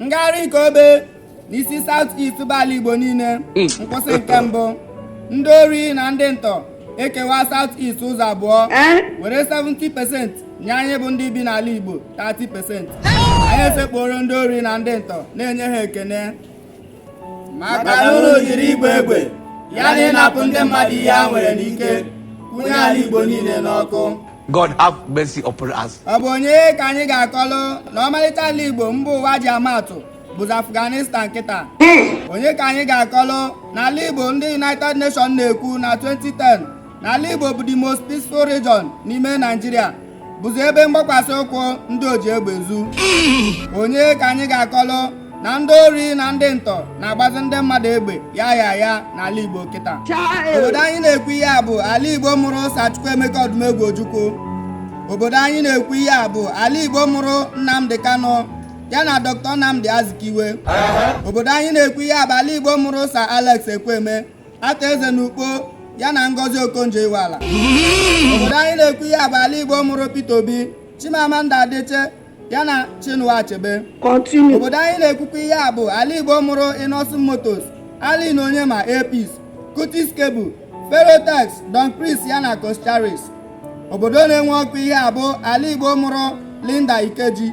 ngagharị nke obe n'isi South East bụ ala Igbo niile hmm. nkwụsị nke mbụ ndị ori na ndị ntọ ekewa South East ụzọ abụọ eh? were 70% nye anyị bụ ndị bi n'ala Igbo 30% anyị esekpuoro ndị ori na ndị ntọ na-enye ha ekene maka na unu jiri ịgba egbe ya na ịnapụ ndị mmadụ ihe ha nwere n'ike kwụnye ala Igbo niile n'ọkụ God have mercy upon us. ọ bụ onye ka anyị ga-akọlụ na ọmarịcha ala Igbo mba ụwa ji ama atụ bụzi Afghanistan kịta onye ka anyị ga-akọlụ na ala Igbo ndị United Nations na-ekwu na 2010 na ala Igbo bụ the most peaceful region n'ime Naijiria bụzi ebe mgbakwasị ụkwụ ndị oji egbe ezu onye ka anyị ga-akọlụ na ndị ori na ndị ntọ na-agbazi ndị mmadụ egbe ya ya ya n'ala Igbo kịta obodo anyị na-ekwu ihe a bụ ala Igbo mụrụ Sir Chukwuemeka Odumegwu Ojukwu obodo anyị na-ekwu ihe a bụ ala Igbo mụrụ Nnamdi Kanu ya na Dr. Nnamdi Azikiwe obodo anyị na-ekwu ihe a bụ ala Igbo mụrụ Sir Alex Ekwueme arthur eze na ukpo ya na ngozi okonjo iweala obodo anyị na-ekwu ihe a bụ ala igbo mụrụ peter obi chimamanda adichie ya na chinua achebe obodo anyị na-ekwukwa ihe a bụ ala igbo mụrụ innoson motors allen onyema air peace cutix cable ferotex don chris ya na coscharis obodo na-enwu ọkụ ihe a bụ ala igbo mụrụ linda ikeji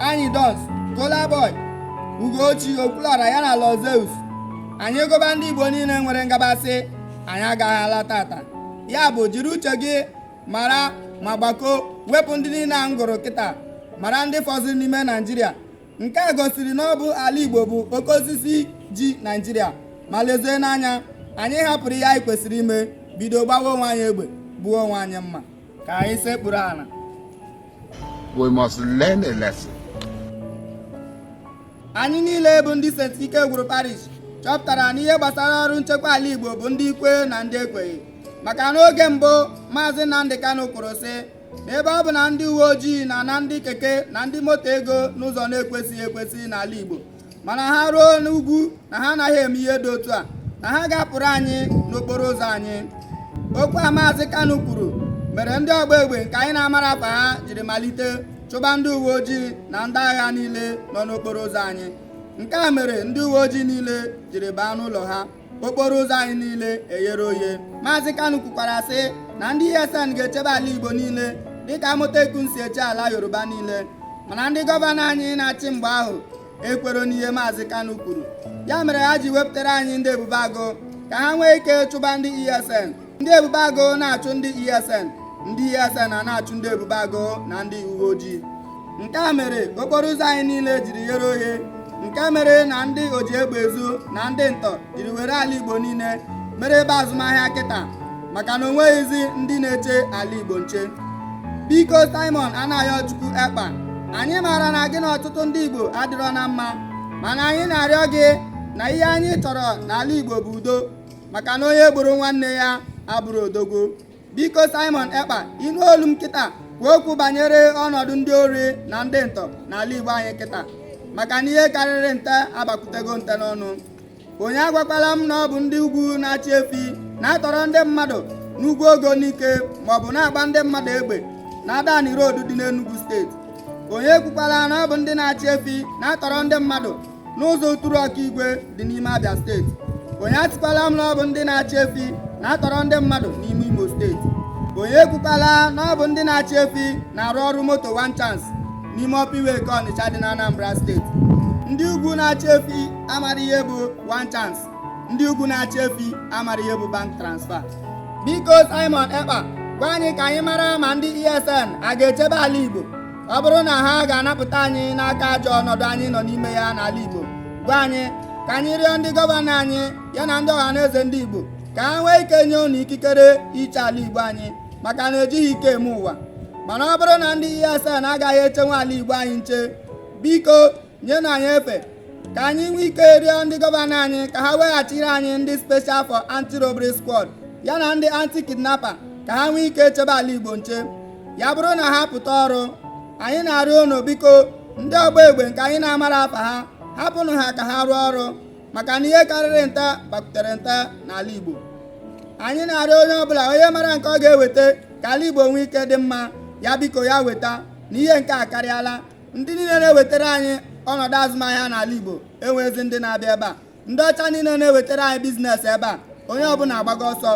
anyidons kolaboy ugoccie okwuluora ya na lord zeus anyị gụba ndị igbo niile nwere ngabasị anyị agaghị ala taata ya bụ jiri uche gị mara ma gbakọọ wepụ ndị niile a m gụrụ kịta mara ndị fọziri n'ime naijiria nke a gosiri na ọ bụ ala igbo bụ oke osisi ji naijiria ma lezienụ anya anyị hapụrụ ihe anyị kwesịrị ime bido gbawa onwe anyị egbe gbuwa onwe anyị mma ka anyị sekpuru ala We must learn a lesson. anyị niile bụ ndị St. Ikegwuru Parish chọpụtara na ihe gbasara ọrụ nchekwa ala Igbo bụ ndị kwe na ndị ekweghị maka n'oge mbụ maazị Nnamdi Kanu kwuru sị na ebe ọ bụ na ndị uwe ojii na-ana ndị keke na ndị moto ego n'ụzọ na-ekwesịghị ekwesị n'ala Igbo mana ha ruo n'ugwu na ha anaghị eme ihe dị otu a na ha ga-apụrụ anyị n'okporo ụzọ anyị okwu a maazị Kanu kwuru mere ndị ọgba egbe nke anyị na-amarọ afa ha jiri malite chụba ndị uwe ojii na ndị agha niile nọ n'okporo ụzọ anyị nke a mere ndị uwe ojii niile jiri baa n'ụlọ ha okporo ụzọ anyị niile eghere oghe maazị Kanu kwukwara sị na ndị ESN ga-echebe ala Igbo niile dịka Amotekun si eche ala Yoruba niile mana ndị gọvanọ anyị na-achị mgbe ahụ ekwero n'ihe maazị Kanu kwuru ya mere ha ji wepụtara anyị ndị ebube agụ ka ha nwee ike chụba ndị ESN ndị ebube agụ na-achụ ndị ESN ndị ESN a na-achụ ndị ebube agụ na ndị uwe ojii nke a mere okporo ụzọ anyị niile jiri ghere oghe nke mere na ndị oji egbe ezu na ndị ntọ jiri were ala Igbo niile mere ebe azụmahịa kịta maka na onweghịzi ndị na-eche ala Igbo nche biko Simon Anayochukwu Ekpa anyị maara na gị na ọtụtụ ndị Igbo adịrọ na mma mana anyị na-arịọ gị na ihe anyị chọrọ n'ala Igbo bụ udo maka na onye gburu nwanne ya abụrọ odogwu biko Simon Ekpa ị nụ olu m kịta kwuo okwu banyere ọnọdụ ndị ori na ndị ntọ n'ala Igbo anyị kịta maka na ihe karịrị nte abakwutego nte n'ọnụ onye agwakwala m na ọ bụ ndị ugwu na-achị efi na-atọrọ ndị mmadụ n'Ugwuogo Nike maọbụ na-agba ndị mmadụ egbe na Adani Road dị n'Enugu steeti onye kwukwala na ọ bụ ndị na-achị efi na-atọrọ ndị mmadụ n'ụzọ Uturu Okigwe dị n'ime Abia steeti onye asịkwala m na ọ bụ ndị na-achị efi na-atọrọ ndị mmadụ n'ime Imo steeti onye ekwukwala na ọ bụ ndị na-achị efi na-arụ ọrụ moto one chance n'ime Upper Iweka Ọnịcha dị na Anambra steeti ndị ugwu na-achị efi amara ihe bụ one chance ndị ugwu na-achị efi amara ihe bụ bank transfer biko Simon Ekpa gwa anyị ka anyị mara ma ndị ESN a ga-echebe ala Igbo ọ bụrụ na ha ga-anapụta anyị n'aka ajọ ọnọdụ anyị nọ n'ime ya n'ala Igbo gwa anyị ka anyị rịọ ndị gọvanọ anyị ya na ndị ọha na eze ndị Igbo ka ha nwee ike nye unu ikikere iche ala Igbo anyị maka na ejighị ike eme ụwa mana ọ bụrụ na ndị ESN agaghị echenwe ala Igbo anyị nche biko nyenụ anyị efe ka anyị nwee ike rịọ ndị gọvanọ anyị ka ha weghachiri anyị ndị special for anti-robbery squad ya na ndị anti-kidnapper ka ha nwee ike chebe ala Igbo nche ya bụrụ na ha pụta ọrụ anyị na-arịọ unu biko ndị ọgba egbe nke anyị na-amarọ afa ha hapụnụ ha ka ha rụọ ọrụ maka na ihe karịrị nte bakwutere nte n'ala Igbo anyị na-arịọ onye ọbụla onye mara nke ọ ga-eweta ka ala Igbo nwee ike dị mma ya biko ya weta na ihe nke a karịala ndị niile na-ewetara anyị ọnọdụ azụmahịa n'ala Igbo enweghịzi ndị na-abịa ebe a ndị ọcha niile na-ewetara anyị bizinesi ebe a onye ọbụla agbago ọsọ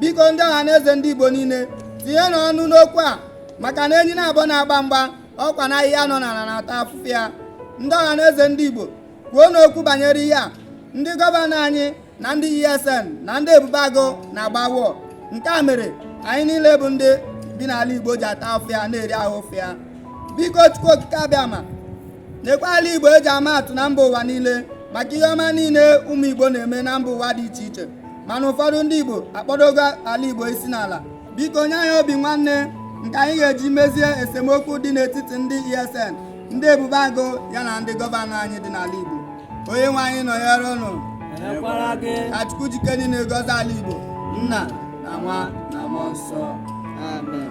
biko ndị ọha na eze ndị Igbo niile tinyenụ ọnụ n'okwu a maka na enyi naabọ na-agba mgba ọkwa na ahịhịa nọ n'ala na-ata afụfụ ya ndị ọha na eze ndị Igbo kwuonụ okwu banyere ihe a ndị gọvanọ anyị na ndị ESN na ndị ebube agụ na-agba wọ nke a mere anyị niile bụ ndị bi n'ala Igbo ji ata afụfụ ya na-eri ahụ ụfụ ya biko Chukwu Okike Abịama nekwa ala Igbo eji ama atụ na mba ụwa niile maka ihe ọma niile ụmụ Igbo na-eme na mba ụwa dị iche iche mana ụfọdụ ndị Igbo akpọdogo ala Igbo isi n'ala biko nye anyị obi nwanne nke anyị ga-eji mezie esemokwu dị n'etiti ndị ESN ndị ebube agụ ya na ndị gọvanọ anyị dị n'ala Igbo onye nwe anyị nọnyere ụnụ ka Chukwu ji ike niile gọzie ala Igbo nna na nwa na mmụọ nsọ amen